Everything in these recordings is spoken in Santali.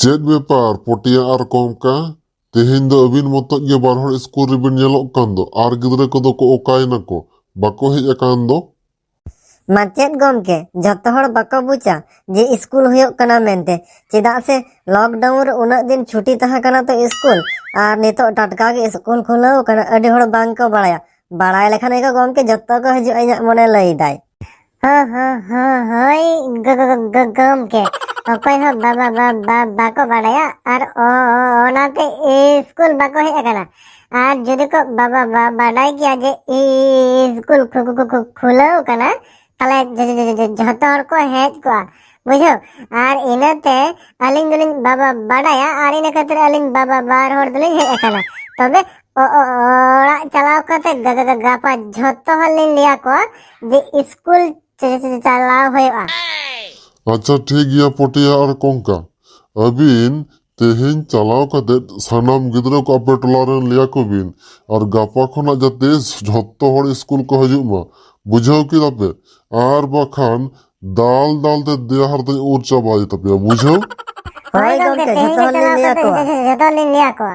ᱪᱮᱫ ᱵᱮᱯᱟᱨ ᱯᱚᱴᱤᱭᱟ ᱟᱨ ᱠᱚᱢᱠᱟ ᱛᱮᱦᱮᱧ ᱫᱚ ᱟᱹᱵᱤᱱ ᱢᱚᱛᱚᱡ ᱜᱮ ᱵᱟᱨ ᱦᱚᱲ ᱥᱠᱩᱞ ᱨᱮᱵᱤᱱ ᱧᱮᱞᱚᱜ ᱠᱟᱱ ᱫᱚ ᱟᱨ ᱜᱤᱫᱽᱨᱟᱹ ᱠᱚᱫᱚ ᱠᱚ ᱚᱠᱟᱭᱮᱱᱟ ᱠᱚ ᱵᱟᱠᱚ ᱦᱮᱡ ᱟᱠᱟᱱ ᱫᱚ ᱢᱟᱪᱮᱫ ᱜᱚᱢᱠᱮ ᱡᱚᱛᱚ ᱦᱚᱲ ᱵᱟᱠᱚ ᱵᱩᱡᱟ ᱡᱮ ᱤᱥᱠᱩᱞ ᱦᱩᱭᱩᱜ ᱠᱟᱱᱟ ᱢᱮᱱᱛᱮ ᱪᱮᱫᱟᱜ ᱥᱮ ᱞᱚᱠᱰᱟᱣᱩᱱ ᱨᱮ ᱩᱱᱟᱹᱜ ᱫᱤᱱ ᱪᱷᱩᱴᱤ ᱛᱟᱦᱮᱸ ᱠᱟᱱᱟ ᱛᱚ ᱤᱥᱠᱩᱞ ᱟᱨ ᱱᱤᱛᱚᱜ ᱴᱟᱴᱠᱟ ᱜᱮ ᱤᱥᱠᱩᱞ ᱠᱷᱩᱞᱟᱹᱣ ᱠᱟᱱᱟ ᱟᱹᱰᱤ ᱦᱚᱲ ᱵᱟᱝ ᱠᱚ ᱵᱟᱲᱟᱭᱟ ᱵᱟᱲᱟᱭ ᱞᱮᱠᱷᱟᱱ ᱜᱮᱠᱚ ᱜᱚᱢᱠᱮ ᱡᱚᱛᱚ ᱠᱚ ᱦᱤᱡᱩᱜᱼᱟ ᱤᱧᱟᱹᱜ ᱢᱚᱱᱮ ᱞᱟᱹᱭᱫᱟᱭ ᱦᱚᱸ ᱦᱚᱸ ᱦᱚᱸ ᱦᱳᱭ ᱜᱚ- ᱜᱚ- ᱜᱚ- ᱜᱚ- ᱜᱚᱢᱠᱮ ᱚᱠᱚᱭ ᱦᱚᱸ ᱵᱟ- ᱵᱟ- ᱵᱟ- ᱵᱟ- ᱵᱟᱠᱚ ᱵᱟᱲᱟᱭᱟ ᱟᱨ ᱚ- ᱚ- ᱚᱱᱟᱛᱮ ᱤᱥᱠᱩᱞ ᱵᱟᱠᱚ ᱦᱮᱡ ᱟᱠᱟᱱᱟ ᱟᱨ ᱡᱩᱫᱤ ᱠᱚ ᱵᱟᱵᱟ ᱵᱟᱰᱟᱭ ᱜᱮᱭᱟ ᱡᱮ ᱤᱥᱠᱩᱞ ᱠᱷᱩᱞᱟᱹᱣ ᱠᱟᱱᱟ ᱛᱟᱦᱞᱮ ᱡᱷᱚᱛᱚ ᱦᱚᱲ ᱠᱚ ᱦᱮᱡ ᱠᱚᱜᱼᱟ ᱵᱩᱡᱷᱟᱹᱣ ᱟᱨ ᱤᱱᱟᱹᱛᱮ ᱟᱹᱞᱤᱧ ᱫᱚᱞᱤᱧ ᱵᱟᱵᱟ ᱵᱟᱰᱟᱭᱟ ᱟᱨ ᱤᱱᱟᱹ ᱠᱷᱟᱹᱛᱤᱨ ᱟᱹᱞᱤᱧ ᱵᱟᱵᱟ ᱵᱟᱨ ᱦᱚᱲ ᱫᱚᱞᱤᱧ ᱦᱮᱡ ᱟᱠᱟᱱᱟ ᱛᱚᱵᱮ ᱚᱲᱟᱜ ᱪᱟᱞᱟᱣ ᱠᱟᱛᱮ ᱜᱟᱯᱟ ᱡᱷᱚᱛᱚ ᱦᱚᱲ ᱞᱤᱧ ᱞᱟᱹᱭᱟ ᱠᱚᱣᱟ ᱡᱮ ᱤᱥᱠᱩᱞ ᱪᱟᱞᱟᱣ ᱦᱩᱭᱩᱜᱼᱟ ᱟᱪᱪᱷᱟ ᱴᱷᱤᱠ ᱜᱮᱭᱟ ᱯᱚᱴᱤᱭᱟ ᱟᱨ ᱠᱚᱝᱠᱟ ᱟᱹᱵᱤᱱ ᱛᱮᱦᱮᱧ ᱪᱟᱞᱟᱣ ᱠᱟᱛᱮ ᱥᱟᱱᱟᱢ ᱜᱤᱫᱽᱨᱟᱹ ᱠᱚ ᱟᱯᱮ ᱴᱚᱞᱟ ᱨᱮᱱ ᱞᱟᱹᱭ ᱟᱠᱚ ᱵᱤᱱ ᱟᱨ ᱜᱟᱯᱟ ᱠᱷᱚᱱᱟᱜ ᱡᱟᱛᱮ ᱡᱷᱚᱛᱚ ᱦᱚᱲ ᱥᱠᱩᱞ ᱠᱚ ᱦᱤᱡᱩᱜ ᱢᱟ ᱵᱩᱡᱷᱟᱹᱣ ᱠᱮᱫᱟ ᱯᱮ ᱟᱨ ᱵᱟᱠᱷᱟᱱ ᱫᱟᱞ ᱫᱟᱞ ᱛᱮ ᱫᱮᱭᱟ ᱦᱟᱨᱛᱟᱧ ᱩᱨ ᱪᱟᱵᱟᱭ ᱛᱟᱯᱮᱭᱟ ᱵᱩᱡᱷᱟᱹᱣ ᱦᱳᱭ ᱜᱚᱢᱠᱮ ᱡᱷᱚᱛᱚ ᱦᱚᱲ ᱞᱤᱧ ᱞᱟᱹᱭ ᱟᱠᱚᱣᱟ ᱡᱷᱚᱛᱚ ᱞᱤᱧ ᱞᱟᱹᱭ ᱟᱠᱚᱣᱟ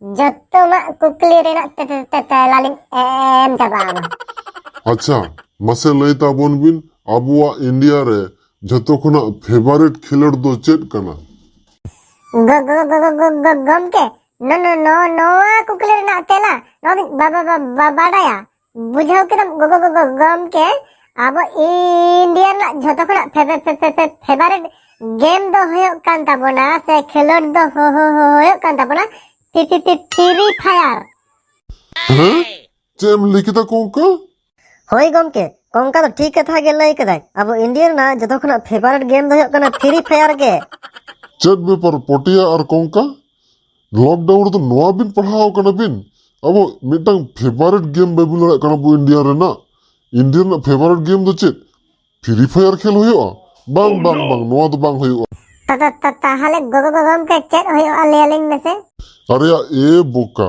ᱡᱚᱛᱚᱢᱟᱜ ᱠᱩᱠᱞᱤ ᱨᱮᱱᱟᱜ ᱛᱮᱞᱟ ᱞᱤᱧ ᱮᱢ ᱪᱟᱵᱟ ᱟᱢᱟ ᱟᱪᱪᱷᱟ ᱢᱟᱥᱮ ᱞᱟᱹᱭ ᱛᱟᱵᱚᱱ ᱵᱤᱱ ᱟᱵᱚᱣᱟᱜ ᱤᱱᱰᱤᱭᱟ ᱨᱮ ᱡᱚᱛᱚ ᱠᱷᱚᱱᱟᱜ ᱯᱷᱮᱵᱟᱨᱮᱴ ᱠᱷᱮᱞᱳᱰ ᱫᱚ ᱪᱮᱫ ᱠᱟᱱᱟ ᱜᱚᱢᱠᱮ ᱱᱚᱣᱟ ᱠᱩᱠᱞᱤ ᱨᱮᱱᱟᱜ ᱛᱮᱞᱟ ᱱᱚᱣᱟ ᱫᱚᱧ ᱵᱟᱰᱟᱭᱟ ᱵᱩᱡᱷᱟᱹᱣ ᱠᱮᱫᱟᱢ ᱜᱚᱜᱚ ᱜᱚᱜᱚ ᱜᱚᱢᱠᱮ ᱟᱵᱚ ᱤᱱᱰᱤᱭᱟ ᱨᱮᱱᱟᱜ ᱡᱷᱚᱛᱚ ᱠᱷᱚᱱᱟᱜ ᱯᱷᱮᱵᱟᱨᱮᱴ ᱜᱮᱢ ᱫᱚ ᱦᱩᱭᱩᱜ ᱠᱟᱱ ᱛᱟᱵᱚᱱᱟ ᱥᱮ ᱠᱷᱮᱞᱳᱰ ᱫᱚ ᱦᱩᱭᱩᱜ ᱠᱟᱱ ᱛᱟᱵᱚᱱᱟ ᱯᱷᱤᱨᱤ ᱯᱷᱟᱭᱟᱨ ᱦᱮᱸ ᱪᱮᱫ ᱮᱢ ᱞᱟᱹᱭ ᱠᱮᱫᱟ ᱠᱚᱝᱠᱟ ᱦᱳᱭ ᱜᱚᱢᱠᱮ ᱠᱚᱝᱠᱟ ᱫᱚ ᱴᱷᱤᱠ ᱠᱟᱛᱷᱟ ᱜᱮ ᱞᱟᱹᱭ ᱠᱮᱫᱟᱭ ᱟᱵᱚ ᱤᱱᱰᱤᱭᱟ ᱨᱮᱱᱟᱜ ᱡᱚᱛᱚ ᱠᱷᱚᱱᱟᱜ ᱯᱷᱮᱵᱟᱨᱮᱴ ᱜᱮᱢ ᱫᱚ ᱦᱩᱭᱩᱜ ᱠᱟᱱᱟ ᱯᱷᱤᱨᱤ ᱯᱷᱟᱭᱟᱨ ᱜᱮ ᱪᱮᱫ ᱵᱮᱯᱟᱨ ᱯᱚᱴᱤᱭᱟ ᱟᱨ ᱠᱚᱝᱠᱟ ᱞᱚᱠᱰᱟᱣᱩᱱ ᱨᱮᱫᱚ ᱱᱚᱣᱟ ᱵᱤᱱ ᱯᱟᱲᱦᱟᱣ ᱠᱟᱱᱟ ᱵᱤᱱ ᱟᱵᱚ ᱢᱤᱫᱴᱟᱝ ᱯᱷᱮᱵᱟᱨᱮᱴ ᱜᱮᱢ ᱵᱟᱹᱵᱤᱱ ᱞᱟᱹᱭ ᱫᱟᱲᱮᱭᱟᱜ ᱠᱟᱱᱟ ᱟᱵᱚ ᱤᱱᱰᱤᱭᱟ ᱨᱮᱱᱟᱜ ᱤᱱᱰᱤᱭᱟ ᱨᱮᱱᱟᱜ ᱯᱷᱮᱵᱟᱨᱮᱴ ᱜᱮᱢ ᱫᱚ ᱪᱮᱫ ᱯᱷᱨᱤ ᱯᱷᱟᱭᱟᱨ ᱠᱷᱮᱞ ᱦᱩᱭᱩᱜᱼᱟ ᱵᱟᱝ ᱵᱟᱝ ᱵᱟᱝ ᱱᱚᱣᱟ ᱫᱚ ᱵᱟᱝ ᱦᱩᱭᱩᱜᱼᱟ ᱛᱟᱦᱞᱮ ᱜᱚᱜᱚ ᱜᱚᱢᱠᱮ ᱪᱮᱫ ᱦᱩᱭᱩᱜᱼᱟ ᱞᱟᱹᱭ ᱟᱹᱞᱤᱧ ᱢᱮᱥᱮ ᱟᱨᱮᱭᱟ ᱮ ᱵᱚᱠᱟ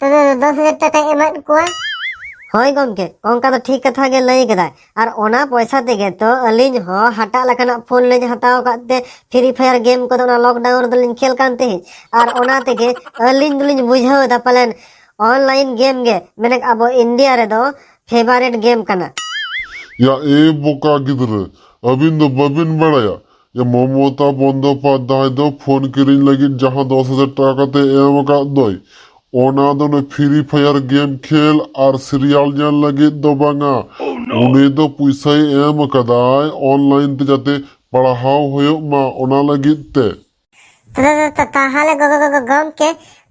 ᱛᱚᱵᱮ ᱫᱚᱥ ᱦᱟᱡᱟᱨ ᱴᱟᱠᱟᱭ ᱮᱢᱟᱫ ᱠᱚᱣᱟ ᱦᱳᱭ ᱜᱚᱢᱠᱮ ᱚᱱᱠᱟ ᱫᱚ ᱴᱷᱤᱠ ᱠᱟᱛᱷᱟ ᱜᱮ ᱞᱟᱹᱭ ᱠᱮᱫᱟᱭ ᱟᱨ ᱚᱱᱟ ᱯᱚᱭᱥᱟ ᱛᱮᱜᱮ ᱛᱚ ᱟᱹᱞᱤᱧ ᱦᱚᱸ ᱦᱟᱴᱟᱜ ᱞᱮᱠᱟᱱᱟᱜ ᱯᱷᱳᱱ ᱞᱤᱧ ᱦᱟᱛᱟᱣ ᱟᱠᱟᱫ ᱛᱮ ᱯᱷᱨᱤ ᱯᱷᱟᱭᱟᱨ ᱜᱮᱢ ᱠᱚᱫᱚ ᱚᱱᱟ ᱞᱚᱠᱰᱟᱣᱩᱱ ᱨᱮᱫᱚᱞᱤᱧ ᱠᱷᱮᱞ ᱠᱟᱱ ᱛᱟᱦᱮᱸᱫ ᱟᱨ ᱚᱱᱟ ᱛᱮᱜᱮ ᱟᱹᱞᱤᱧ ᱫᱚᱞᱤᱧ ᱵᱩᱡᱷᱟᱹᱣ ᱮᱫᱟ ᱯᱟᱞᱮᱱ ᱚᱱᱞᱟᱭᱤᱱ ᱜᱮᱢ ᱜᱮ ᱢᱮᱱᱮ ᱟᱵᱚ ᱤᱱᱰᱤᱭᱟ ᱨᱮᱫᱚ ᱯᱷᱮᱵᱟᱨᱮᱴ ᱜᱮᱢ ᱠᱟᱱᱟ ᱭᱟ ᱮ ᱵᱚᱠᱟ ᱜᱤᱫᱽᱨᱟᱹ ᱟᱹᱵᱤᱱ ᱫᱚ ᱵᱟᱹᱵᱤᱱ ᱵᱟᱲᱟᱭᱟ ᱢᱚᱢᱚᱛᱟ ᱵᱚᱱᱫᱚᱯᱟᱫᱽᱫᱷᱟᱭ ᱫᱚ ᱯᱷᱳᱱ ᱠᱤᱨᱤᱧ ᱞᱟᱹᱜᱤᱫ ᱡᱟᱦᱟᱸ ᱫᱚᱥ ᱦᱟᱡᱟᱨ ᱴᱟᱠᱟ ᱠᱟᱛᱮ ᱮᱢ ᱟᱠᱟᱫ ᱫᱚᱭ ᱚᱱᱟ ᱫᱚ ᱱᱩᱭ ᱯᱷᱨᱤ ᱯᱷᱟᱭᱟᱨ ᱜᱮᱢ ᱠᱷᱮᱞ ᱟᱨ ᱥᱤᱨᱤᱭᱟᱞ ᱧᱮᱞ ᱞᱟᱹᱜᱤᱫ ᱫᱚ ᱵᱟᱝᱟ ᱩᱱᱤ ᱫᱚ ᱯᱚᱭᱥᱟᱭ ᱮᱢ ᱟᱠᱟᱫᱟᱭ ᱚᱱᱞᱟᱭᱤᱱ ᱛᱮ ᱡᱟᱛᱮ ᱯᱟᱲᱦᱟᱣ ᱦᱩᱭᱩᱜ ᱢᱟ ᱚᱱᱟ ᱞᱟᱹᱜᱤᱫ ᱛᱮ ᱛᱟᱦᱚᱞᱮ ᱜᱚᱢᱠᱮ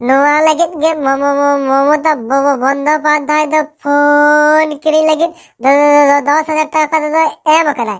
ᱱᱚᱣᱟ ᱞᱟᱹᱜᱤᱫ ᱜᱮ ᱢᱚᱢᱚᱛᱟ ᱵᱚᱱᱫᱚᱯᱟᱫᱽᱫᱷᱟᱭ ᱫᱚ ᱯᱷᱳᱱ ᱠᱤᱨᱤᱧ ᱞᱟᱹᱜᱤᱫ ᱫᱚᱥ ᱦᱟᱡᱟᱨ ᱴᱟᱠᱟ ᱠᱟᱛᱮ ᱫᱚ ᱮᱢ ᱟᱠᱟᱫᱟᱭ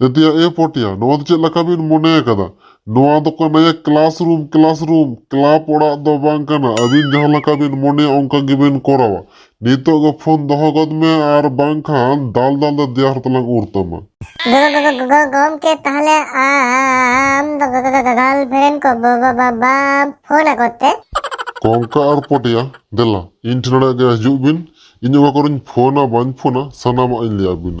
ᱡᱟᱛᱮᱭᱟ ᱮ ᱯᱚᱴᱮᱭᱟ ᱱᱚᱣᱟ ᱫᱚ ᱪᱮᱫ ᱞᱮᱠᱟ ᱵᱤᱱ ᱢᱚᱱᱮ ᱟᱠᱟᱫᱟ ᱱᱚᱣᱟ ᱫᱚ ᱠᱟᱱᱟ classroom classroom club ᱚᱲᱟᱜ ᱫᱚ ᱵᱟᱝ ᱠᱟᱱᱟ ᱟᱹᱵᱤᱱ ᱡᱟᱦᱟᱸ ᱞᱮᱠᱟ ᱵᱤᱱ ᱢᱚᱱᱮᱭᱟ ᱚᱱᱠᱟ ᱜᱮᱵᱤᱱ ᱠᱚᱨᱟᱣᱟ ᱱᱤᱛᱚᱜ ᱜᱮ ᱯᱷᱳᱱ ᱫᱚᱦᱚ ᱜᱚᱫ ᱢᱮ ᱟᱨ ᱵᱟᱝᱠᱷᱟᱱ ᱫᱟᱞ ᱫᱟᱞ ᱫᱚ ᱫᱮᱭᱟ ᱦᱚᱨ ᱛᱮᱞᱟᱝ ᱩᱨ ᱛᱟᱢᱟ ᱜᱚᱢᱠᱮ ᱛᱟᱦᱚᱞᱮ ᱟᱢ ᱫᱚ ᱜᱟᱞ ᱵᱷᱮᱱ ᱠᱚ ᱵᱟᱢ ᱯᱷᱳᱱ ᱟᱠᱚ ᱛᱮ ᱠᱚᱝᱠᱟ ᱟᱨ ᱯᱚᱴᱮᱭᱟ ᱫᱮᱞᱟ ᱤᱧ ᱴᱷᱮᱱ ᱜᱮ ᱦᱤᱡᱩᱜ ᱵᱤᱱ ᱤᱧ ᱚᱠᱟ ᱠᱚᱨᱮᱧ ᱯᱷᱳᱱᱟ ᱵᱟᱹᱧ ᱯᱷᱳᱱᱟ ᱥᱟᱱᱟᱢᱟᱜ ᱤᱧ ᱞᱟᱹᱭᱟᱵᱤᱱᱟ